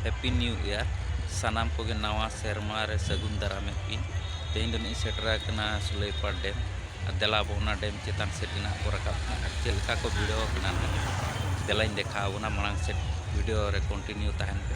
Happy new year ᱥᱟᱱᱟᱢ ᱠᱚᱜᱮ ᱱᱟᱣᱟ ᱥᱮᱨᱢᱟ ᱨᱮ ᱥᱟᱹᱜᱩᱱ ᱫᱟᱨᱟᱢᱮᱫ ᱯᱮᱭᱟᱹᱧ ᱛᱮᱦᱮᱧ ᱫᱚ ᱱᱤᱛ ᱤᱧ ᱥᱮᱴᱮᱨ ᱟᱠᱟᱱᱟ ᱥᱩᱞᱟᱹᱭᱯᱟᱲ ᱰᱮᱢ ᱟᱨ ᱫᱮᱞᱟ ᱟᱵᱚ ᱚᱱᱟ ᱰᱮᱢ ᱪᱮᱛᱟᱱ ᱥᱮᱫ ᱜᱮ ᱱᱟᱦᱟᱜ ᱵᱚ ᱨᱟᱠᱟᱵ ᱠᱟᱱᱟ ᱟᱨ ᱪᱮᱫ ᱞᱮᱠᱟ ᱠᱚ ᱵᱷᱤᱲᱟᱹᱣ ᱟᱠᱟᱱᱟ ᱱᱟᱦᱟᱜ ᱫᱮᱞᱟᱧ ᱫᱮᱠᱷᱟᱣ ᱟᱵᱚᱱᱟ ᱢᱟᱲᱟᱝ ᱥᱮᱫ ᱵᱷᱤᱰᱤᱭᱳ ᱨᱮ ᱠᱚᱱᱴᱤᱱᱤᱭᱩ ᱛᱟᱦᱮᱱ ᱯᱮ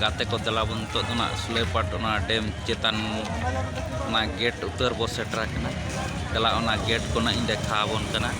ᱜᱟᱛᱮ ᱠᱚ ᱫᱮᱞᱟ ᱵᱚᱱ ᱱᱤᱛᱚᱜ ᱫᱚ ᱱᱟᱜ ᱥᱩᱞᱮᱯᱟᱴ ᱚᱱᱟ ᱰᱮᱢ ᱪᱮᱛᱟᱱ ᱚᱱᱟ ᱜᱮᱴ ᱩᱛᱟᱹᱨ ᱵᱚ ᱥᱮᱴᱮᱨ ᱟᱠᱟᱱᱟ ᱫᱮᱞᱟ ᱚᱱᱟ ᱜᱮᱴ ᱠᱚ ᱱᱟᱜ ᱤᱧ ᱫᱮᱠᱷᱟᱣ ᱟᱵᱚᱱ ᱠᱟᱱᱟ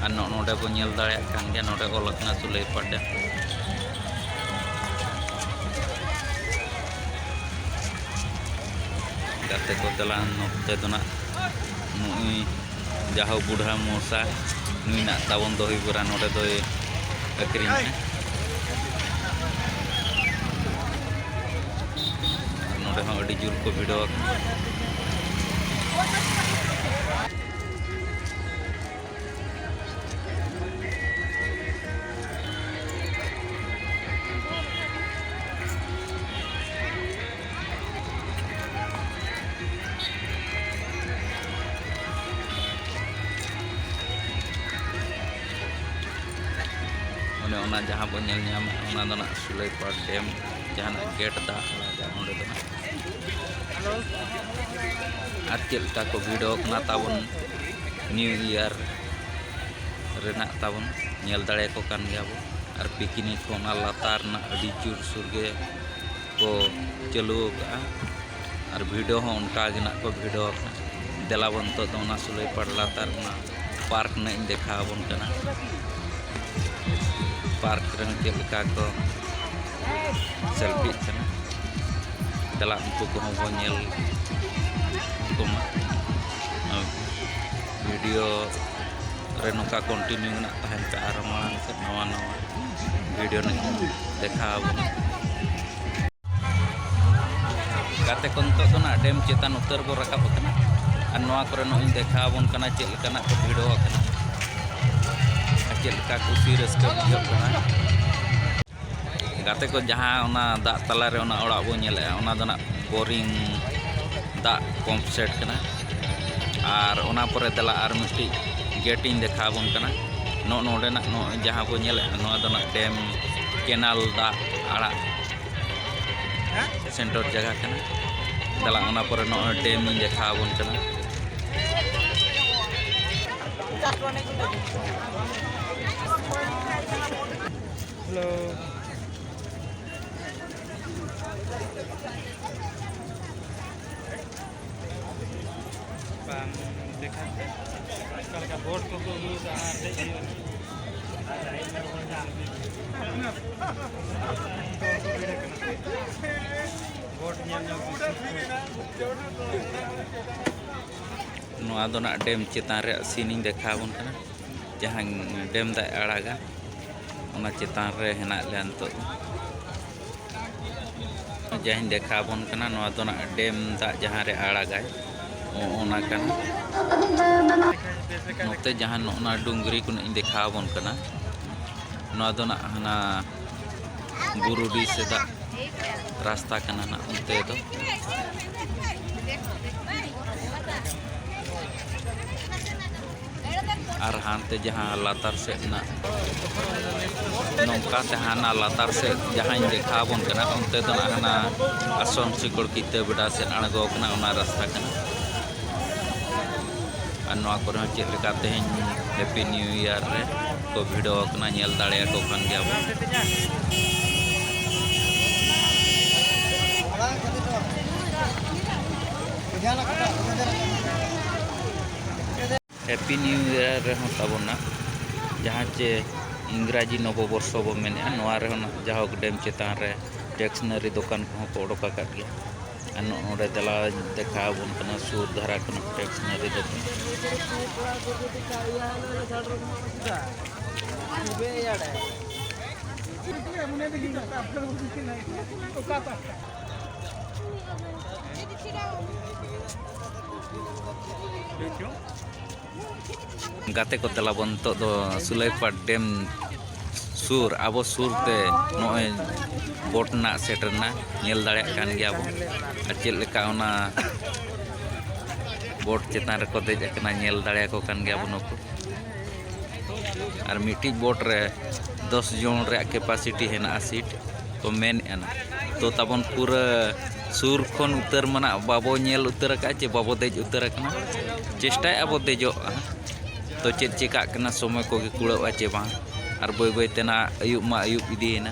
ᱟᱨ ᱱᱚᱜᱼᱚ ᱱᱚᱰᱮ ᱵᱚ ᱧᱮᱞ ᱫᱟᱲᱮᱭᱟᱜ ᱠᱟᱱ ᱜᱮᱭᱟ ᱱᱚᱰᱮ ᱚᱞ ᱟᱠᱟᱱᱟ ᱥᱩᱞᱮᱯᱟᱴ ᱰᱮᱢ ᱜᱟᱛᱮ ᱠᱚ ᱫᱮᱞᱟ ᱱᱚᱛᱮ ᱫᱚ ᱱᱟᱜ ᱱᱚᱜᱼᱚᱭ ᱡᱟᱦᱳ ᱵᱩᱰᱷᱟ ᱢᱚᱥᱟ ᱢᱮᱱᱟᱜ ᱛᱟᱵᱚᱱ ᱫᱚᱦᱤ ᱵᱚᱨᱟ ᱱᱚᱰᱮ ᱫᱚᱭ ᱟᱹᱠᱷᱨᱤᱧᱟ ᱱᱚᱰᱮ ᱦᱚᱸ ᱟᱹᱰᱤ ᱡᱳᱨ ᱠᱚ ᱵᱷᱤᱲᱚ ᱚᱱᱮ ᱚᱱᱟ ᱡᱟᱦᱟᱸ ᱵᱚᱱ ᱧᱮᱞ ᱧᱟᱢᱟ ᱚᱱᱟ ᱫᱚ ᱱᱟᱜ ᱥᱩᱞᱟᱹᱭᱯᱟᱲ ᱰᱮᱢ ᱡᱟᱦᱟᱱᱟᱜ ᱜᱮᱴ ᱫᱟᱜ ᱟᱲᱟᱜᱟ ᱚᱸᱰᱮ ᱫᱚ ᱱᱟᱜ ᱟᱨ ᱪᱮᱫ ᱞᱮᱠᱟ ᱠᱚ ᱵᱷᱤᱲᱚᱜ ᱠᱟᱱᱟ ᱛᱟᱵᱚᱱ ᱱᱤᱭᱩ ᱤᱭᱟᱨ ᱨᱮᱱᱟᱜ ᱛᱟᱵᱚᱱ ᱧᱮᱞ ᱫᱟᱲᱮᱭᱟᱠᱚ ᱠᱟᱱ ᱜᱮᱭᱟ ᱵᱚᱱ ᱟᱨ ᱯᱤᱠᱱᱤᱠ ᱦᱚᱸ ᱚᱱᱟ ᱞᱟᱛᱟᱨ ᱨᱮᱱᱟᱜ ᱟᱹᱰᱤ ᱡᱳᱨᱥᱳᱨ ᱜᱮ ᱠᱚ ᱪᱟᱹᱞᱩ ᱟᱠᱟᱫᱼᱟ ᱟᱨ ᱵᱷᱤᱰᱤᱭᱳ ᱦᱚᱸ ᱚᱱᱠᱟ ᱜᱮ ᱱᱟᱦᱟᱜ ᱠᱚ ᱵᱷᱤᱰᱤᱭᱳ ᱟᱠᱟᱫᱼᱟ ᱫᱮᱞᱟ ᱵᱚᱱ ᱱᱤᱛᱚᱜ ᱫᱚ ᱚᱱᱟ ᱥᱩᱞᱟᱹᱭ ᱯᱟᱲ ᱞᱟᱛᱟᱨ ᱨᱮᱱᱟᱜ ᱯᱟᱨᱠ ᱱᱟᱦᱟᱜ ᱤᱧ ᱫᱮᱠᱷᱟᱣ ᱟᱵᱚᱱ ᱠᱟᱱᱟ ᱯᱟᱨᱠ ᱨᱮᱦᱚᱸ ᱪᱮᱫ ᱞᱮᱠᱟ ᱠᱚ ᱥᱮᱞᱯᱷᱤᱜ ᱠᱟᱱᱟ ᱫᱮᱞᱟ ᱩᱱᱠᱩ ᱠᱚᱦᱚᱸ ᱵᱚᱱ ᱧᱮᱞ ᱠᱚᱢᱟ ᱵᱷᱤᱰᱤᱭᱳ ᱨᱮ ᱱᱚᱝᱠᱟ ᱠᱚᱱᱴᱤᱱᱤᱭᱩ ᱢᱮᱱᱟᱜ ᱛᱟᱦᱮᱱ ᱠᱷᱟᱱ ᱟᱨᱦᱚᱸ ᱢᱟᱲᱟᱝ ᱥᱮᱫ ᱱᱟᱣᱟ ᱱᱟᱣᱟ ᱵᱷᱤᱰᱤᱭᱳ ᱫᱮᱠᱷᱟᱣ ᱟᱵᱚᱱᱟ ᱜᱟᱛᱮ ᱠᱚ ᱱᱤᱛᱚᱜ ᱫᱚ ᱱᱟᱜ ᱰᱮᱢ ᱪᱮᱛᱟᱱ ᱩᱛᱟᱹᱨ ᱵᱚ ᱨᱟᱠᱟᱵ ᱟᱠᱟᱱᱟ ᱟᱨ ᱱᱚᱣᱟ ᱠᱚᱨᱮ ᱱᱚᱜᱼᱚᱭ ᱫᱮᱠᱷᱟᱣ ᱟᱵᱚᱱ ᱠᱟᱱᱟ ᱪᱮᱫ ᱞᱮᱠᱟᱱᱟᱜ ᱠᱚ ᱵᱷᱤᱲᱚ ᱟᱠᱟᱱᱟ ᱟᱨ ᱪᱮᱫ ᱞᱮᱠᱟ ᱠᱩᱥᱤ ᱨᱟᱹᱥᱠᱟᱹ ᱵᱩᱡᱷᱟᱹᱜ ᱠᱟᱱᱟ ᱜᱟᱛᱮ ᱠᱚ ᱡᱟᱦᱟᱸ ᱚᱱᱟ ᱫᱟᱜ ᱛᱟᱞᱟᱨᱮ ᱚᱱᱟ ᱚᱲᱟᱜ ᱵᱚᱱ ᱧᱮᱞᱮᱜᱼᱟ ᱚᱱᱟ ᱫᱚ ᱱᱟᱜ ᱵᱳᱨᱤᱝ ᱫᱟᱜ ᱯᱚᱢᱯ ᱥᱮᱴ ᱠᱟᱱᱟ ᱟᱨ ᱚᱱᱟ ᱯᱚᱨᱮ ᱫᱮᱞᱟ ᱟᱨ ᱢᱤᱫᱴᱤᱡ ᱜᱮᱴ ᱤᱧ ᱫᱮᱠᱷᱟᱣ ᱟᱵᱚᱱ ᱠᱟᱱᱟ ᱱᱚᱜᱼᱚ ᱱᱚᱰᱮᱱᱟᱜ ᱱᱚᱜᱼᱚᱭ ᱡᱟᱦᱟᱸ ᱵᱚᱱ ᱧᱮᱞᱮᱫᱼᱟ ᱱᱚᱣᱟ ᱫᱚ ᱱᱟᱜ ᱰᱮᱢ ᱠᱮᱱᱟᱞ ᱫᱟᱜ ᱟᱲᱟᱜ ᱥᱮᱱᱴᱚᱨ ᱡᱟᱭᱜᱟ ᱠᱟᱱᱟ ᱫᱮᱞᱟ ᱚᱱᱟ ᱯᱚᱨᱮ ᱱᱚᱜᱼᱚᱭ ᱰᱮᱢ ᱤᱧ ᱫᱮᱠᱷᱟᱣ ᱟᱵᱚᱱ ᱠᱟᱱᱟ Hello. ᱵᱟᱝ ᱫᱮᱠᱷᱟ ᱚᱱᱠᱟ ᱞᱮᱠᱟ ᱵᱳᱨᱰ ᱠᱚᱠᱚ ᱟᱹᱜᱩ ᱠᱟᱜᱼᱟ ᱟᱨ ᱫᱮᱡ ᱦᱩᱭᱩᱜᱼᱟ ᱵᱳᱨᱰ ᱧᱮᱞ ᱧᱮᱞ ᱱᱚᱣᱟ ᱫᱚ ᱱᱟᱜ ᱰᱮᱢ ᱪᱮᱛᱟᱱ ᱨᱮᱭᱟᱜ ᱥᱤᱱᱤᱧ ᱫᱮᱠᱷᱟᱣ ᱟᱵᱚᱱ ᱠᱟᱱᱟ ᱡᱟᱦᱟᱸ ᱰᱮᱢ ᱫᱟᱜ ᱟᱲᱟᱜᱟ ᱚᱱᱟ ᱪᱮᱛᱟᱱ ᱨᱮ ᱦᱮᱱᱟᱜ ᱞᱮᱭᱟ ᱱᱤᱛᱚᱜ ᱫᱚ ᱡᱟᱦᱟᱸᱧ ᱫᱮᱠᱷᱟ ᱟᱵᱚᱱ ᱠᱟᱱᱟ ᱱᱚᱣᱟ ᱫᱚ ᱱᱟᱜ ᱰᱮᱢ ᱫᱟᱜ ᱡᱟᱦᱟᱸ ᱨᱮ ᱟᱲᱟᱜᱟᱭ ᱚᱱᱟ ᱠᱟᱱᱟ ᱱᱚᱛᱮ ᱡᱟᱦᱟᱸ ᱱᱚᱜᱼᱱᱟ ᱰᱩᱝᱨᱤ ᱠᱚ ᱤᱧ ᱫᱮᱠᱷᱟ ᱟᱵᱚᱱ ᱠᱟᱱᱟ ᱱᱚᱣᱟ ᱫᱚ ᱱᱟᱜ ᱦᱟᱱᱟ ᱵᱩᱨᱩᱰᱤ ᱥᱮ ᱫᱟᱜ ᱨᱟᱥᱛᱟ ᱠᱟᱱᱟ ᱱᱟᱜ ᱚᱱᱛᱮ ᱫᱚ ᱟᱨ ᱦᱟᱱᱛᱮ ᱡᱟᱦᱟᱸ ᱞᱟᱛᱟᱨ ᱥᱮᱫ ᱨᱮᱱᱟᱜ ᱱᱚᱝᱠᱟ ᱛᱮ ᱦᱟᱱᱟ ᱞᱟᱛᱟᱨ ᱥᱮᱫ ᱡᱟᱦᱟᱸᱧ ᱫᱮᱠᱷᱟᱣ ᱟᱵᱚᱱ ᱠᱟᱱᱟ ᱚᱱᱛᱮ ᱫᱚ ᱱᱟᱜ ᱦᱟᱱᱟ ᱟᱥᱚᱱ ᱥᱤᱠᱚᱲ ᱠᱤᱛᱟᱹ ᱵᱮᱰᱟ ᱥᱮᱫ ᱟᱬᱜᱚ ᱠᱟᱱᱟ ᱚᱱᱟ ᱨᱟᱥᱛᱟ ᱠᱟᱱᱟ ᱟᱨ ᱱᱚᱣᱟ ᱠᱚᱨᱮ ᱦᱚᱸ ᱪᱮᱫ ᱞᱮᱠᱟ ᱛᱮᱦᱮᱧ ᱦᱮᱯᱤ ᱱᱤᱭᱩ ᱤᱭᱟᱨ ᱨᱮ ᱠᱚ ᱵᱷᱤᱲᱚ ᱟᱠᱟᱱᱟ ᱧᱮᱞ ᱫᱟᱲᱮᱭᱟᱠᱚ ᱠᱟᱱ ᱜᱮᱭᱟ ᱵᱚᱱ Jangan ᱦᱮᱯᱤ ᱱᱤᱭᱩ ᱤᱭᱟᱨ ᱨᱮᱦᱚᱸ ᱛᱟᱵᱚᱱᱟ ᱡᱟᱦᱟᱸ ᱪᱮ ᱤᱝᱨᱟᱡᱤ ᱱᱚᱵᱚ ᱵᱚᱨᱥᱚ ᱵᱚ ᱢᱮᱱᱮᱜᱼᱟ ᱱᱚᱣᱟ ᱨᱮᱦᱚᱸ ᱡᱟᱦᱳᱠ ᱰᱮᱢ ᱪᱮᱛᱟᱱ ᱨᱮ ᱴᱮᱠᱥᱱᱟᱨᱤ ᱫᱚᱠᱟᱱ ᱠᱚᱦᱚᱸ ᱠᱚ ᱚᱰᱚᱠ ᱟᱠᱟᱫ ᱜᱮᱭᱟ ᱟᱨ ᱱᱚᱰᱮ ᱫᱮᱞᱟ ᱫᱮᱠᱷᱟᱣ ᱟᱵᱚᱱ ᱠᱟᱱᱟ ᱥᱩᱨ ᱫᱷᱟᱨᱟ ᱠᱷᱚᱱᱟᱜ ᱴᱮᱠᱥᱱᱟᱨᱤ ᱫᱚᱠᱟᱱ ᱜᱟᱛᱮ ᱠᱚ ᱛᱮᱞᱟ ᱵᱚᱱ ᱱᱤᱛᱚᱜ ᱫᱚ ᱥᱩᱞᱟᱹᱭᱯᱟᱲ ᱰᱮᱢ ᱥᱩᱨ ᱟᱵᱚ ᱥᱩᱨ ᱛᱮ ᱱᱚᱜᱼᱚᱭ ᱵᱳᱴ ᱨᱮᱱᱟᱜ ᱥᱮᱴᱮᱨ ᱮᱱᱟ ᱧᱮᱞ ᱫᱟᱲᱮᱭᱟᱜ ᱠᱟᱱ ᱜᱮᱭᱟ ᱵᱚᱱ ᱟᱨ ᱪᱮᱫ ᱞᱮᱠᱟ ᱚᱱᱟ ᱵᱳᱴ ᱪᱮᱛᱟᱱ ᱨᱮᱠᱚ ᱫᱮᱡ ᱟᱠᱟᱱᱟ ᱧᱮᱞ ᱫᱟᱲᱮᱭᱟᱠᱚ ᱠᱟᱱ ᱜᱮᱭᱟ ᱵᱚᱱ ᱱᱩᱠᱩ ᱟᱨ ᱢᱤᱫᱴᱤᱡ ᱵᱳᱴ ᱨᱮ ᱫᱚᱥ ᱡᱚᱱ ᱨᱮᱭᱟᱜ ᱠᱮᱯᱟᱥᱤᱴᱤ ᱦᱮᱱᱟᱜᱼᱟ ᱥᱤᱴ ᱠᱚ ᱢᱮᱱᱮᱫᱼᱟ ᱛᱚ ᱛᱟᱵᱚᱱ ᱯᱩᱨᱟᱹ ᱥᱩᱨ ᱠᱷᱚᱱ ᱩᱛᱟᱹᱨ ᱢᱟᱱᱮ ᱵᱟᱵᱚ ᱧᱮᱞ ᱩᱛᱟᱹᱨ ᱟᱠᱟᱫᱼᱟ ᱪᱮ ᱵᱟᱵᱚ ᱫᱮᱡ ᱩᱛᱟᱹᱨ ᱟᱠᱟᱱᱟ ᱪᱮᱥᱴᱟᱭᱮᱫᱼᱟ ᱵᱚ ᱫᱮᱡᱚᱜ ᱛᱚ ᱪᱮᱫ ᱪᱤᱠᱟᱹᱜ ᱠᱟᱱᱟ ᱥᱚᱢᱚᱭ ᱠᱚᱜᱮ ᱠᱩᱲᱟᱹᱜᱼᱟ ᱪᱮ ᱵᱟᱝ ᱟᱨ ᱵᱟᱹᱭ ᱵᱟᱹᱭ ᱛᱮ ᱱᱟᱦᱟᱜ ᱟᱹᱭᱩᱵ ᱢᱟ ᱟᱹᱭᱩᱵ ᱤᱫᱤᱭᱮᱱᱟ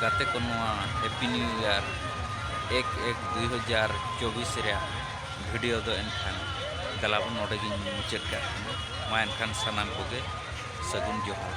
ᱜᱟᱛᱮ ᱠᱚ ᱱᱚᱣᱟ ᱦᱮᱯᱤ ᱱᱤᱭᱩ ᱤᱭᱟᱨ ᱮᱠ ᱮᱠ ᱫᱩᱭ ᱦᱟᱡᱟᱨ ᱪᱚᱵᱵᱤᱥ ᱨᱮᱭᱟᱜ ᱵᱷᱤᱰᱤᱭᱳ ᱫᱚ ᱮᱱᱠᱷᱟᱱ ᱜᱟᱞᱟᱵᱚ ᱱᱚᱰᱮ ᱜᱤᱧ ᱢᱩᱪᱟᱹᱫ ᱠᱟᱜ ᱠᱟᱱᱟ ᱢᱟ ᱮᱱᱠᱷᱟᱱ ᱥᱟᱱᱟᱢ ᱠᱚᱜᱮ ᱥᱟᱹᱜᱩᱱ ᱡᱚᱦᱟᱨ